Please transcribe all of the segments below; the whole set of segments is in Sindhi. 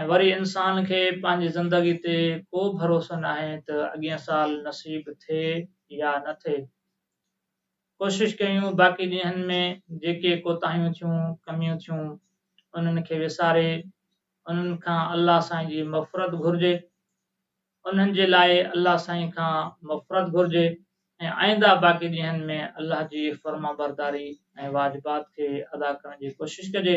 ۽ وري انسان کي پنهنجي زندگي تي ڪو ڀروسو ناهي ته اڳين سال نصيب ٿئي يا نه ٿئي. ڪوشش ڪيون باقي ڏينهن ۾ جيڪي ڪوتاهيون ٿيون، ڪميون ٿيون، انهن کي وساري انهن کان الله سائين جي مغفرت گهرجي، انهن جي لاء الله سائين کان مغفرت گهرجي ۽ آئنده باقي ڏينهن ۾ الله جي فرمانبرداري ۽ واجبات کي ادا ڪرڻ جي ڪوشش ڪجي.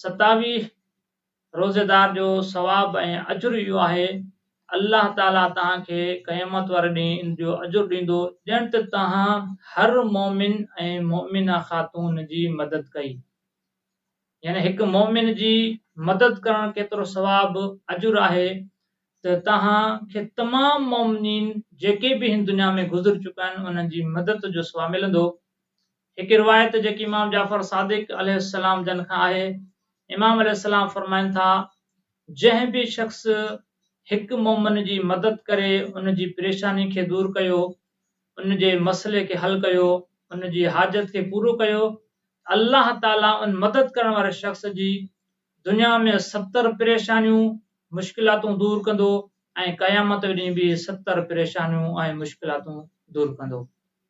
ستاويهه روزيدار جو ثواب ۽ اجر اهو آهي، الله تعالي توهان کي قيامت واري ڏينهن ان جو اجر ڏيندو ڄڻ ته توهان هر مؤمن ۽ مؤمنه خاتون جي مدد ڪئي. يعني هڪ مؤمن جي مدد ڪرڻ ڪيترو ثواب، اجر، آهي ته توهان کي تمام مؤمنين جيڪي به هن دنيا ۾ گذر چڪا آهن انهن جي مدد جو ثواب ملندو. هڪ روايت جيڪي امام جعفر صادق عليه السلام جن کان آهي، امام عليه السلام فرمائن ٿا، جنهن به شخص هڪ مؤمن جي مدد ڪري ان جي پريشاني کي دور ڪيو، ان جي مسئلي کي حل ڪيو، ان جي حاجت کي پورو ڪيو ته الله تعاليٰ ان مدد ڪرڻ واري شخص جي دنيا ۾ ستر پريشانيون، مشڪلاتون دور ڪندو ۽ قيامت ڏينهن به ستر پريشانيون ۽ مشڪلاتون دور ڪندو.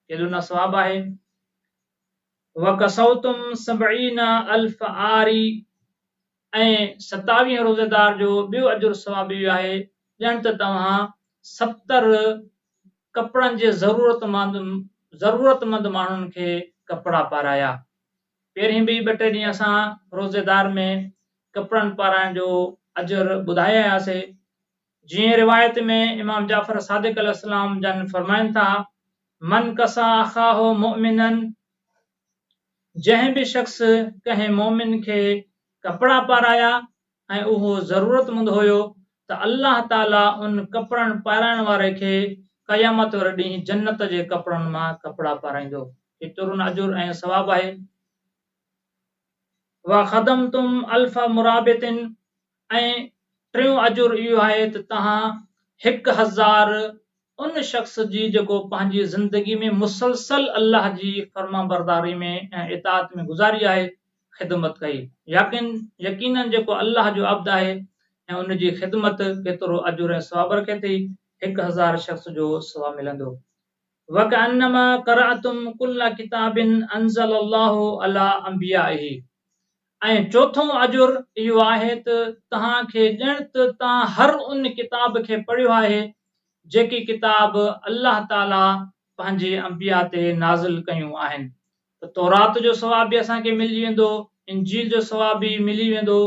ڪيڏو نه ثواب آهي. وڪسوتم سبعين الف عاري ۽ ستاويهه روزيدار جو ٻيو اجر ثواب اهو آهي ڄڻ ته توهان ستر ڪپڙن جي ضرورتمند ضرورتمند ماڻهن کي ڪپڙا پارايا. پهرين به ٻه ٽي ڏينهن اسان روزيدار ۾ ڪپڙن پارائڻ جو اجر ٻڌايا هيا سي جيئن روايت ۾ امام جعفر صادق عليه السلام جن فرمائن ٿا من کسا اخاه مؤمنن جنهن به شخص ڪنهن مؤمن کي ڪپڙا پارايا ۽ اهو ضرورتمند هيو ته الله تعاليٰ ان ڪپڙن پارائڻ واري کي قيامت واري ڏينهن جنت جي ڪپڙن مان ڪپڙا پارائيندو. هي ترن اجر ۽ ثواب آهي. وخدمتم الف مرابط ۽ ٽيون اجر اهو آهي ته توهان هڪ هزار ان شخص جي جيڪو پنهنجي زندگي ۾ مسلسل الله جي فرمانبرداري ۾ ۽ اطاعت ۾ گذاري آهي، خدمت ڪئي. يقين يقينن جيڪو الله جو عبد آهي ۽ ان جي خدمت ڪيترو اجر ۽ ثواب رکي ٿي، هڪ هزار شخص جو ثواب ملندو. وڪأنما قرأتم ڪل ڪتاب أنزل الله علي أنبيائه ۽ چوٿون اجر اهو آهي ته توهان کي ڄڻ ته توهان هر ان ڪتاب کي پڙهيو آهي جيڪي ڪتاب الله تعالي پنهنجي انبياء تي نازل ڪيون آهن ته تورات جو ثواب به اسان کي ملجي ويندو، انجيل جو ثواب به ملي ويندو،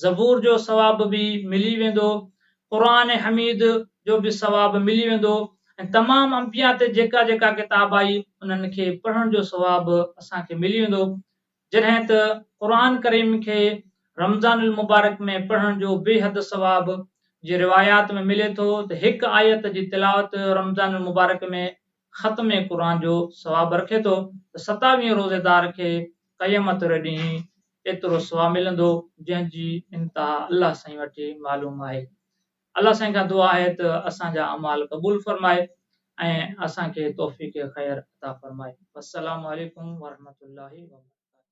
زبور جو ثواب به ملي ويندو، قرآن حميد جو به ثواب ملي ويندو ۽ تمام انبياء تي جيڪا جيڪا ڪتاب آئي انهن کي پڙهڻ جو ثواب اسان کي ملي ويندو جڏهن ته قرآن ڪريم کي رمضان المبارڪ ۾ پڙهڻ جو بيحد ثواب جي روايات ۾ ملي ٿو ته هڪ آيت جي تلاوت رمضان المبارڪ ۾ ختم قرآن جو ثواب رکي ٿو ته ستاويهين روزيدار کي قيامت واري ڏينهن ايترو ثواب ملندو جنهن جي انتها الله سائين وٽ ئي معلوم آهي الله سائين کان دعا آهي ته اسان جا اعمال قبول فرمائي ۽ اسان کي توفيق خير عطا فرمائي والسلام عليڪم ورحمة الله وبرڪاته.